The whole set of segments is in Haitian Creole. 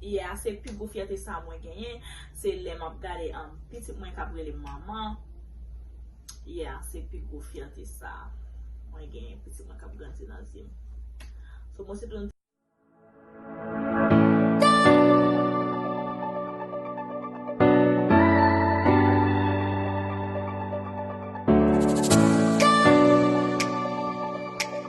Yè a se pi gwo fyète sa mwen genyen se lè map gade an pitit mwen kap rele manman yè a se pi gwo fyète sa mwen genyen pitit mwen kap grandi nan zye m so mwen se tou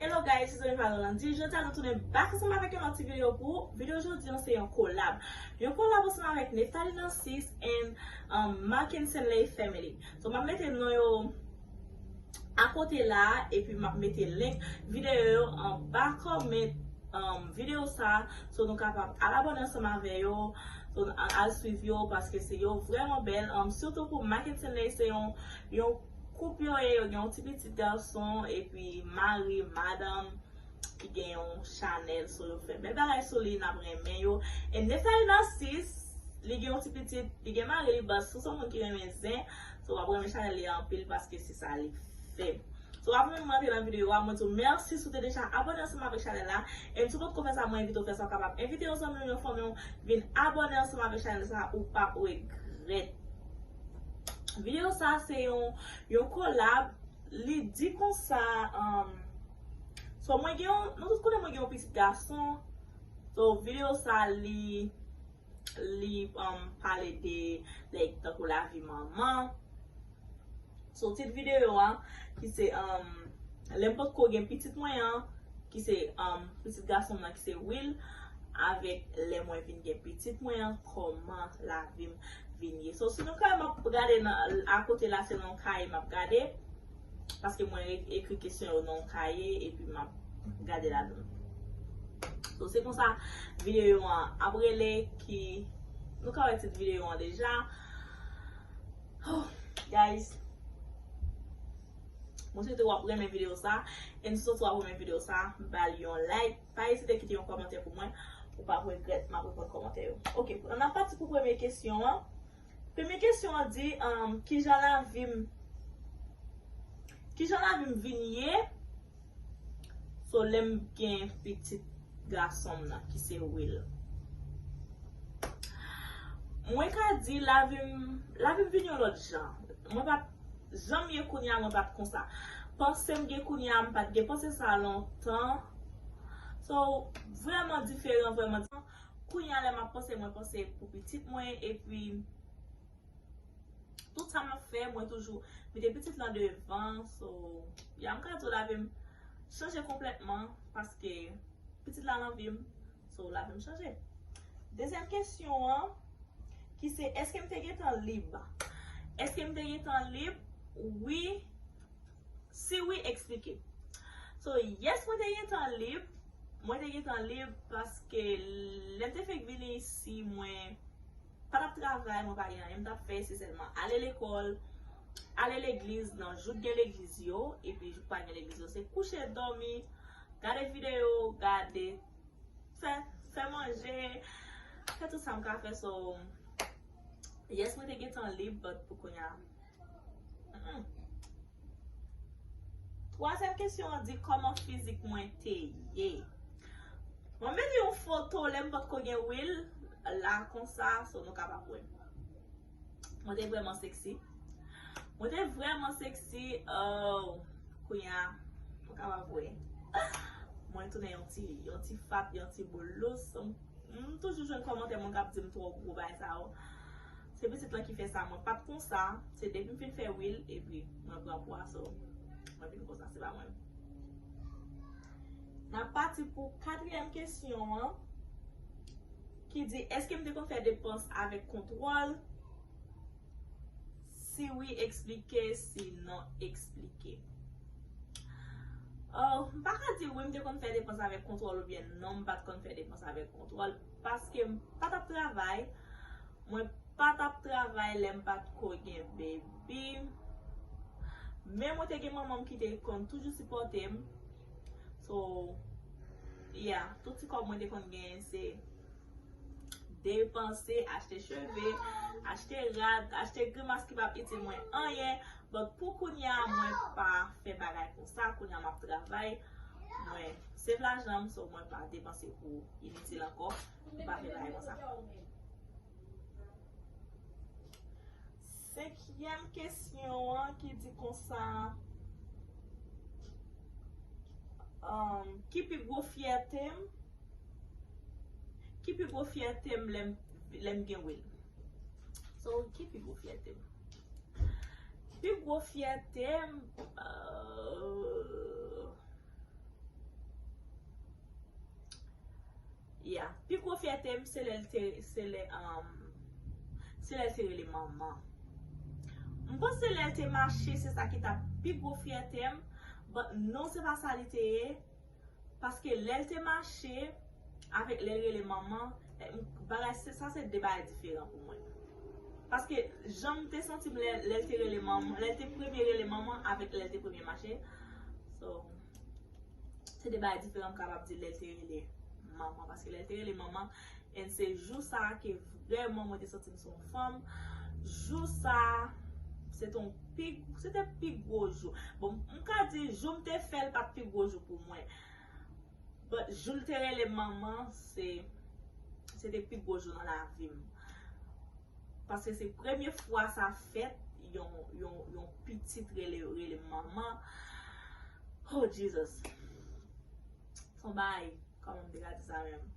Hello guys, se Zoe Farah Landy, jodi a nou tounen back ansanm avèk yon lòt ti video pou ou, video jodi an se yon kolab, yon kolab ansanm avèk Nephtalie Narcisse and um, Markenson Ley Family, so map mete non yo akote la a epi map mete link video yo anba comment um video sa a, so nou kapab al abone ansanm avè yo, so al swiv yo paske yo vrèman bèl, um sitou pou Markenson Ley se yon Yon koup yo ye, yo gen yon ti pitit gason epi mari, madanm ki gen yon chanèl so yo fè bèl bagay sou li nap renmen yo e Nefèy Narcisse li gen yon ti pitit li gen mari li but si son moun ki renmen zen so wap renmen chanèl li anpil paske se sa li fè so avan menm rantre nan videyo a mwen diw mèsi si w te deja abòne ansanm avèk chanèl la e si w potko fè sa mwen envite w fè sa w kapab envite yon zanmi w yon fanmi w vin abòne ansanm avèk chanèl sa ou pap regrèt. Video sa se yon yon kolab li di konsa um, so mwen gen yon nou tout konnen mwen gen yon pitit gason so video sa li li um, pale de like tankou lavi manman so tit video a ki se um, lè m potko gen pitit mwen an ki se um, pitit gason m nan ki se Will avèk lè mwen vin gen pitit mwen an koman lavim vin ye so si nou kwè map gade nan a kote la se nan yon kaye map gade paske mwen ekri kesyon yo nan yon kaye epi map gade ladan so se konsa videyo an ap rele ki nou ka wè tit videyo an deja oh guys mwen swete wap renmen videyo sa e m si w sot wap renmen videyo sa bal yon like. Pa ezite kite yon kòmantè pou mwen, ou pap regrèt, map reponn kòmantè yo. Ok, an ap pati pou premye kesyon an. Premye kesyon an di, kijan lavi m, kijan lavi m vin ye, so lè m gen pitit gason m nan ki se Will. Mwen ka di lavi m, lavi m vin yon lòt jan. Mwen pa Janm ye kounya mwen pat konsa. Pansem gen kounya mpat gen panse sa lontan so vrèman diferan vrèman kounya lè map panse mwen panse pou pitit mwen epi tout sa map fè mwen toujou mete pitit lan devan so ya mka diw lavim chanje konplètman paske pitit la nan vim So la menm chanje. Dezyèm kesyon an, ki se, eske m te gen tan lib? Eske m te gen tan lib? Wi. Si wi, eksplike. So, yes mwen te gen tan lib. Mwen te gen tan lib paske lè m te fèk vini isi mwen pa t ap travay, mwen pa gen anyen m t ap fè. Se sèlman ale lekòl, ale legliz nan jou k gen legliz yo. Epi jou k pa gen legliz yo se kouche, dòmi, gade videyo, gade. fè fè manje fè tout sa m ka fè so yes mwen te gen tan lib but pou kounya mm twazyèm kesyon an di kòman fizik mwen te ye mwen mete yon foto lè m potko gen wil la konsa so nou kapab wè Mwen te vrèman sexy. Mwen te vrèman sexy. Oh. Kounya. Mwen ka pa vwe. Mwen tounen yon ti, yon ti fat, yon ti boulous. M toujou jwenn kòmantè moun kap di m twò gwo bagay sa yo. Se pitit lan ki fè sa. Mwen pat konsa. Se depi m fin fè wheel epi mwen pran pwa so. Mwen vin konsa. Se pa mwen. Nap pati pou katriyèm kesyon an. Ki di, Èske m te konn fè depans avèk kontwòl? Si wi, eksplike, si non, eksplike. Oh, m pa ka di wi m te konn fè depans avèk kontwòl oubyen non m pa t konn fè depans avèk kontwòl paske m pa t ap travay. Mwen pa t ap travay lè m pa t ko gen bebi. Men mwen te gen manman m ki te konn toujou sipòte m. So yeah tout ti kòb mwen te konn genyen se depanse achte cheve, achte rad, achte grimas ki pap itil mwen anyen but pou kounya mwen pa fè bagay konsa kounya map travay mwen save lajanm so mwen pa depanse pou initil ankò mwen pa fè bagay konsa. Senkyèm kesyon an ki di konsa, Ki pi gwo fyète m? Ki pi gwo fyète m lè m gen Will? So, ki pi gwo fyète m? Pi gwo fyète m, ahh. Yeah. Pi gwo fyète m se lè l te se lè se lè l te rele manman. M panc se lè l te mache se sa ki ta pi gwo fyète m but non se pa sa li te ye paske lè l te mache avèk lè l rele manman bagay se sa se 2 bagay diferan pou mwen. Paske jan m te santi m lè l te rele manman lè l te premye rele manman avèk lè l te premye mache so. Se de bagay diferan m kapab di lè l te rele manman. Paske lè l te rele manman, en se jou sa a ke vrèman mwen te santi m se yon fanm. Jou sa a, se te yon pi, se te pi gwo jou. Bon, m ka di jou m te fè l pa t pi gwo jou pou mwen. But, jou l te rele manman, se, se te pi gwo jou nan lavi m. Paske se premye fwa sa fèt yon pitit rele manman. Oh Jesus! Son bagay, kòman m te ka di sa menm?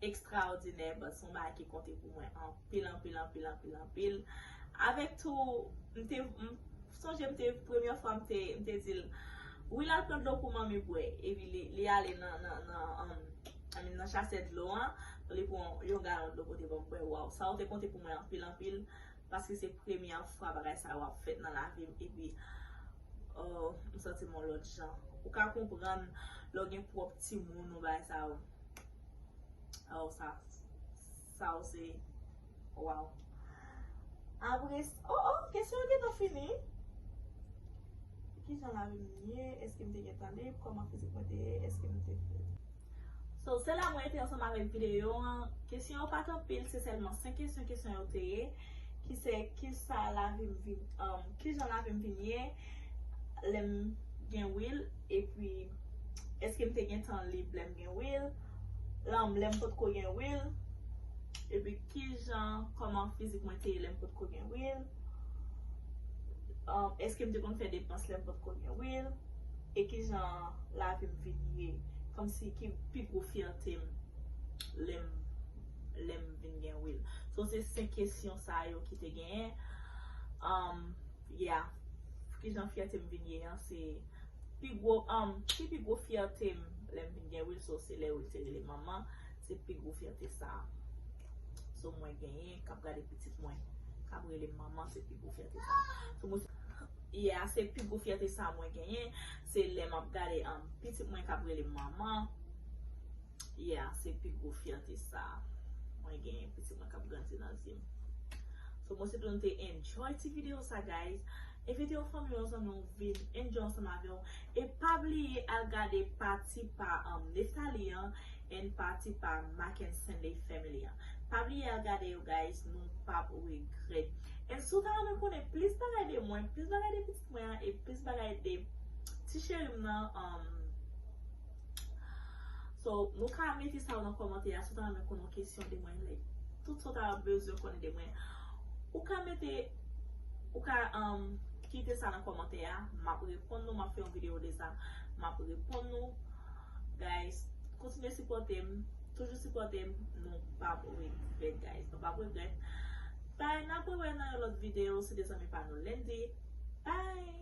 Ekstraòdinè but son bagay ki konte pou mwen anpil, anpil, anpil, anpil, anpil. Avèk tou, m te, m sonje m te, premye fwa m te, m te di l, Wi l al pran dlo pou manmi bwè. Epi li ale nan, nan, nan, nan chasè dlo an. Li pran yon galon dlo pote banm bwè waw sa ou te konte pou mwen anpil anpil paske se premyè fwa bagay sa yo ap fèt nan lavim epi ooh m santim yon lòt jan ou ka konprann lè w gen pwòp timoun ou bagay sa yo sa yo se Waw. Apre s oh oh kesyon yo gentan fini. Kijan lavi m ye, eske m te gentan lib, kòman fizik mwen te ye, eske m te fèt. So se la mwen rete ansanm avèk videyo an. Kesyon yo pat anpil, se sèlman 5 kesyon kesyon yo te ye ki se kisa lavi m vin uh kijan lavi m vin ye lè m gen Will epi eske m te gentan lib lè m gen Will. lèm pot ko gen wil epi kijan kòman fizik mwen te ye lèm pot ko gen wil eskem te konn fè depans lèm pot ko gen wil e kijan lavim vin ye kòmsi ki pi gwo fyètem lèm lèm vin gen wil sou se 5 kesyon sa yo ki te genyen Yeah. Kijan fyète m vin ye an se pi gwo um si pi gwo fyète m lè m vin gen Wilso se lè Wilse rele manman se pi gwo fyète sa so mwen genyen kap gade pitit mwen kap rele m manman se pi gwo fyète sa so mwen Yeah se pi gwo fyète sa mwen genyen se lè map gade um pitit mwen kap rele m manman. Yeah, se pi gwo fyète sa mwen genyen pitit mwen kap grandi nan zye'm. So mwen swete nou te enjoy ti video sa guys. Envite yon fanmi, yon zanmi w vin enjoy ansanm avè'w e pa bliye al gade pati pa Nephtalie an and pati pa Mack and Stanley family an. Pa bliye al gade yo guys, nou pap regrèt. And si w ta renmen konnen plis bagay de mwen, plis bagay de pitit mwen an e plis bagay de ti cheri'm nan, So nou ka mete sa yo nan kòmantè a si w ta renmen konnen yon kesyon de mwen like tout sa w ta bezwen konnen de mwen ou ka mete ou ka kite sa nan kòmantè a m ap reponn nou m ap fè yon videyo de sa m ap reponn nou guys kontinye sipòte m toujou sipòte m nou pa p regrèt guys nou pa p regrèt bye n ap re wè nan yon lòt videyo se te zanmi pa nou Lendy bye.